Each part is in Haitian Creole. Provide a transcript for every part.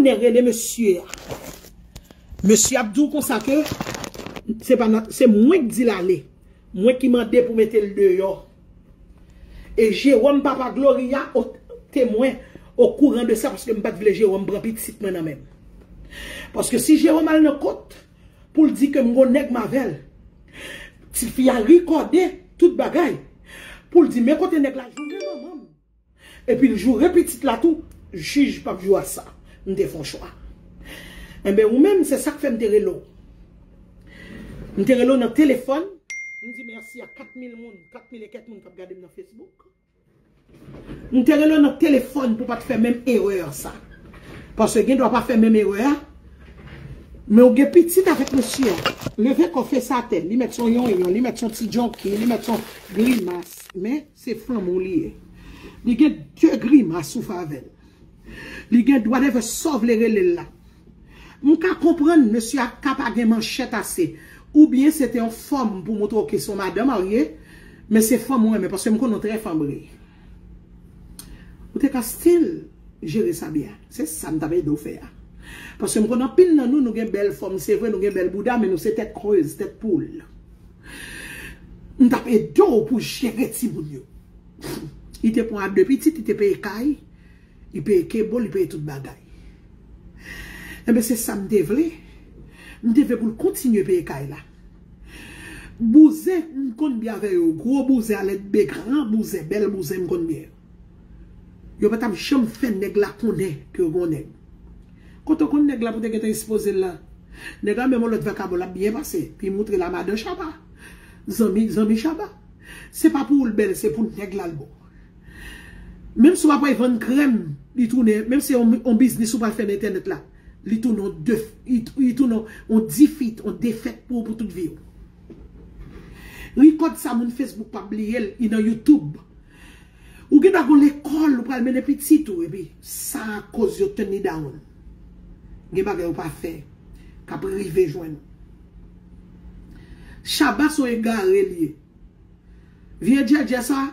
Nè rele mesye a. Mesye ap di w konsa ke se pa nan, se mwen ki di l ale. Mwen ki mande pou mete l deyò. E Jewòm papa Gloria o temwen, o kouran de sa paske m pa t vle Jewòm pran pitit mwen nan men m. Paske si Jewòm al nan kot pou l di ke m gon nèg m avè l, tifi a rekòde tout bagay pou l di men kote nèg la jounen manman m. Epi l joure pitit la tou jij pap jou a sa m te fè yon chwa enben ou menm se sak fè m te rele w m te rele w nan telefòn m di mèsi a 4000 moun 4000 e kèk moun kap gade m nan facebook m te rele w nan telefòn pou w pat fè menm erè a sa paske gen dwa pa fè menm erè a men ou gen pitit avèk mesye a leve kò fese atè li mèt son yonyon li mèt son ti djonki li mèt son grimas men. Se fanm ou li ye. Li gen de grimas ou fè avèl. Li gen whatever saw vle relel la. M ka konprann mesye a ka pa gen manchèt ase. Ou byen se te yon fòm pou moutre w ke se yon madan marye. Men se fanm ou renmen paske m konnen w trè fanbre. Ou te ka still jere sa byen. Se sa m tap ede w fè a. Paske m konnen anpil nan nou nou gen bèl fòm se vre nou gen bèl bouda men nou se tèt krèz, tèt poul. M tap ede w pou jere timoun yo. Li te pran a 2 pitit, li te peye kay, li peye kebo, li peye tout bagay. Enben se sa m te vle. M te vle pou l kontinye peye kay la. Bouzen m konn byen avè yo. Gwo bouzen alèdbe, gran bouzen, bèl bouzen m konn byen. Yo pa tap janm fè nèg la konnen ke yo gen yon nèg. Kote w konn nèg la pou te gentan espozel la Nèg la menm yon lòt vakabon lap byen pase Pi moutre la madan Shaba Zanmi zanmi Shaba Se pa pou ou l bèl se pou nèg la l bon Menm si w ap al vann krèm li tounen menm se yon biznis ou pral fè nan entènèt la li tounen yon def li tounen yon difit yon defèt pou ou pou tout vi w Ricot sa moun Facebook pap bliye l li nan youtube Ou gentan gon lekòl ou pral mennen pitit ou epi sa koz yo turn li down. Gen bagay ou pa fè kap rive jwenn ou. Shabba son egare li ye. Vye djèdjè sa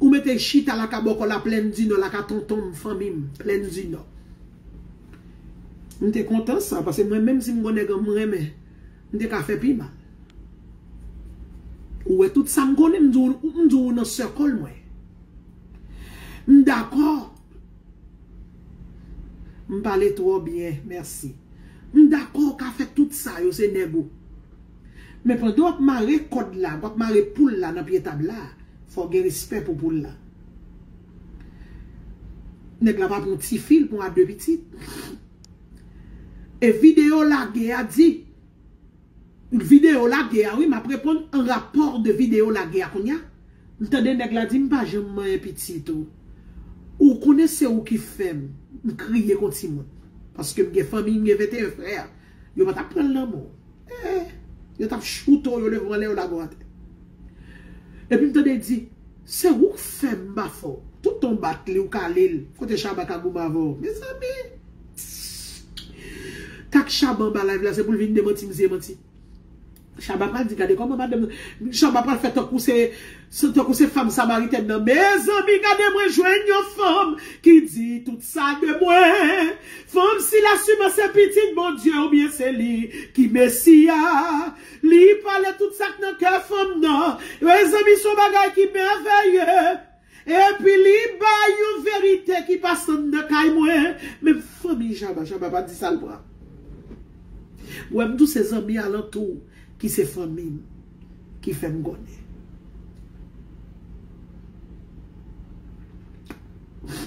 ou mete chita laka bòkò la plèn di nò laka tonton m fanmi m plèn di nò. M te kontan sa pase mwen menm si m gon nèg m renmen M te ka fè pi mal. Ou wè tout sa m konnen m di w m di w ou nan circle mwen. M dakò. M pale twò byen, mèsi. M dakò ou ka fè tout sa yo se nèg ou. Men pandan w ap mare kòd la, w ap mare poul la nan pye tab la, fò w gen respè pou poul la. Nèg la pa pran ti fi, l pran a 2 pitit. E video lage a di. Video lage a wi map reponn an rapò de video lage a kounya m tande nèg la di m pa janm manyen pitit ou ou konnen se ou ki fèm m kriye kon timoun paske m gen fanmiy m gen 21 frè yo patap pranl nan menw eh yo tap choutew yo levanw lè yo lagow atè epi m tande di. Se wouk fèm pa fò. Tout tan w bat li w kale l kote Shabba ka goumen avè w mezanmi pssst sak Shabba anba live la se pou l vin demanti m si e manti Shabba pral di gade kòman madanm nan Shabba pral fè tankou se tankou se fanm samaritèn nan mezanmi gade mwen jwenn yon fanm ki di tout sa de mwen fanm sila siman se pitit Bondye oubyen se li ki mesi a. Li pale tout sak nan kè fanm nan. Mezanmi son bagay ki mèvèye. Epi li bay yon verite ki pa sann nan kay mwen. Menm fanmi Jaba, Jaba pa di sal pran. Ou wèm tou se zanmi alantou ki se fanmim ki fèm konnen.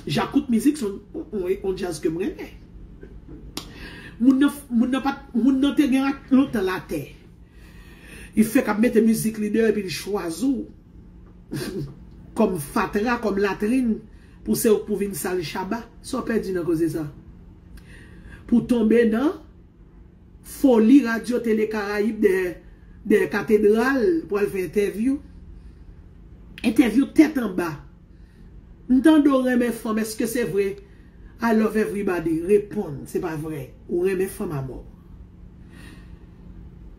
Jacques kout mizik son on jazz kem renmen. Moun nan pat Moun nan te gen lontan latè Li fèk ap mete mizik li deyò epi li chwazi w Kòm fatra kòm latrin Pou se ou k pou vin sal Shabba Sa w pèdi nan koze sa Pou w tonbe nan Foli radyo tele karayib Dèyè katedral Pou al fè entèvyou Entèvyou tèt anba M tande w renmen fanm eske se vre I love everybody reponn se pa vre ou renmen fanm amò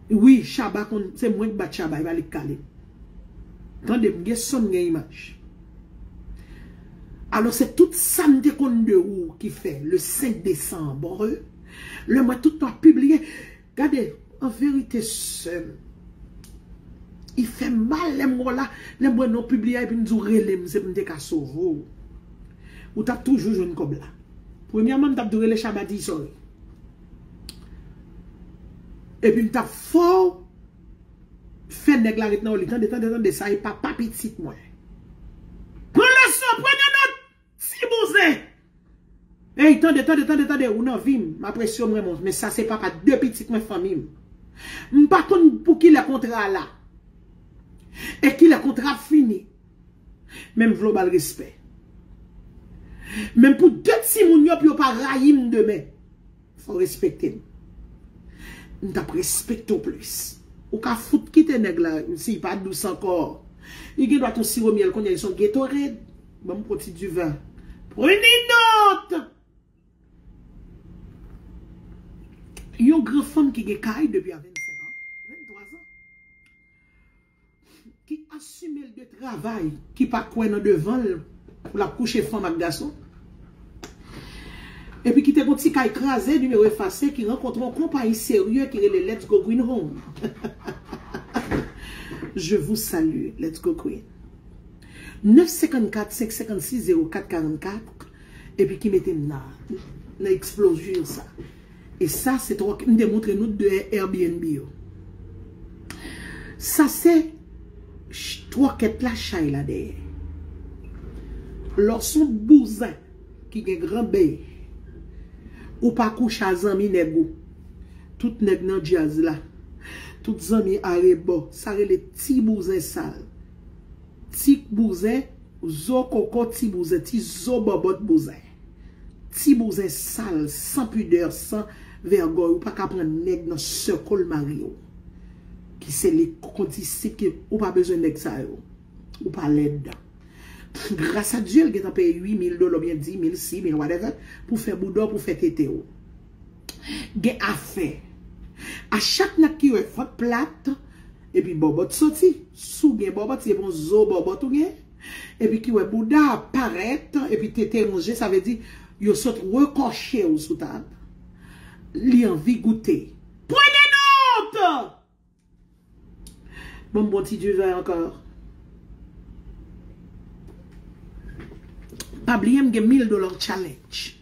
wi Shabba konn se mwen k bat Shabba epa li k kale m tande m gen son m gen imaj alò se tout sa m te konn de ou ki fè le 5 desanbre lè m wè tout tan w ap pibliye Gade an verite seum. I fem mal lem we w la, lem we non publi a epi m di w relem se pou m te ka sove w. Ou tap toujou jwenn kob la. Premyeman m tap di w rele Shaba di sorry. Epi m tap fe w fe neg la ret nan w li. Tande tande tande sa e papa pitit mwen. Pran leson premye not Ti bouzen! Ey tande tande tande tande ou nan vim m apresye w m renmen w men sa se papa 2 pitit mwen fanmi m m pa konn pou kilè kontra a la e kilè kontra ap fini men m vle w ba l respè men pou 2 timoun yo pou yo pa rayi m demen. Fò w respekte m. M t ap respekte w plis. Ou ka fout kite nèg la si l pa dous ankò. Li gendwa t on siwo myèl kounye a li s on Gatorade. Ban m pran ti diven. Prenez note! Yon gran fanm ki gen kay depi a 25 an, 23 an. ki asime l de travay, ki pa kwè nan devan l pou l ap kouche fanm ak gason, epi ki te gen yon ti kay kraze, nimewo efase, ki rankontre yon konpayi serye ki rele Let's Go Green Home. Je vous salue, Let's Go Green. 9 54 556 04 44 epi ki mete m nan eksplozur sa. E sa se tròk m te montre nou de Airbnb yo. Sa se tròkèt la chay la dèyè. Lò son bouzen ki gen gran bèy. Ou pa kouche a zanmi nèg ou. Tout nèg nan djaz la. Tout zanmi arebò. Sa rele ti bouzen sal. Ti bouzen zo koko ti bouzen. Ti zo bòbòt bouzen. Ti bouzen sal san pudeur san vègòy ou paka pran nèg nan circle mari w ki se li kondisip ki ou pa bezwen nèg sa yo ou pa lèd gras a Dieu l gentan peye 8000 dola oubyen 10000 6000 whatever pou fè bouda w pou fè tete w gen afè a chak nèg ki wè vant plat epi bòbòt soti si w gen bòbòt se pon zo bòbòt ou gen. Epi ki wè bouda a parèt epi tete ronje sa vle di yo sot rekòche ou sou tab li anvi goute. Prenez note! Banm bon ti du vin ankò. Pa bliye m gen 1000 dollars challenge.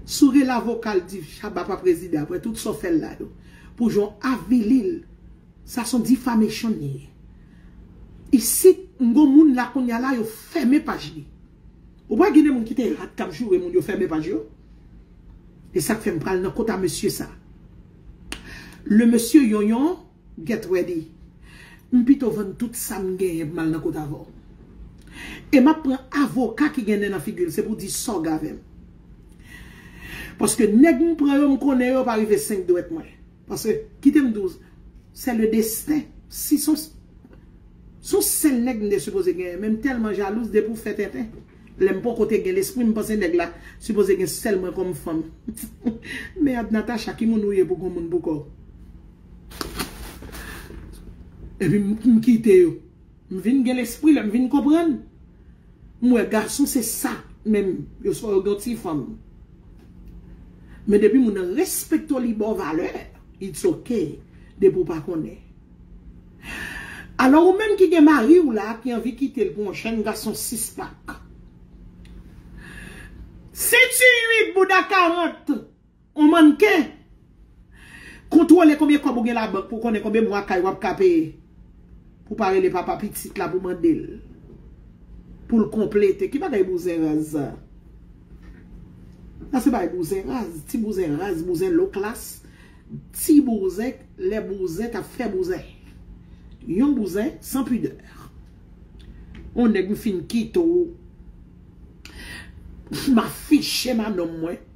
Sourel avoka l di Shabba pa prezidan aprè tout sa w fè l la yo pou jan w avili l. Sa son difamation li ye. Isit m gon moun la kounya la yo fèmen paj li. Ou pa gin de moun ki te rat kap joure moun yo fèmen paj yo? E sak fèm pral nan kota mesye sa. Le mesye yonyon get ready. M pito vann tout sam genyen pou mal nan kot avèw. E map pran avoka ki gen nen nan figil se pou di sòg avèm. Paske nèg m pran yo m konnen yo pa rive 5 dwèt mwen. Paske, kite m di w, se le desten. Si son son sèl nèg m te sipoze genyen, men m tèlman jalouz depi w fè tenten. Lè m poko te gen lespri m panse nèg la sipoze gen sèl mwen kòm fanm. Merd Natacha ki moun ou ye pou gen yon moun pou kò w? Epi m kite yo. M vin gen lespri lè m vin konprann. M wè gason se sa menm yo swa yo gen yon ti fanm. Men depi moun nan respekte w li ba w valè it's ok depi w pa konnen. Alò ou menm ki gen mari w la ki anvi kite l pou yon jèn gason 6 pak. Si tu ui bouda 40 On mannken! Kontwole konbyen kòb ou gen labank pou w konnen konbyen mwa kay w ap ka peye pou w pa rele papa pitit la pou w mande l pou l konplete. Ki bagay bouzen raz sa? Sa se bagay bouzen raz, ti bouzen raz, bouzen low class, ti bouzen lè bouzen t ap fè bouzen. Yon bouzen san pidè. On nèg m fin kite w, m afiche manonm mwen.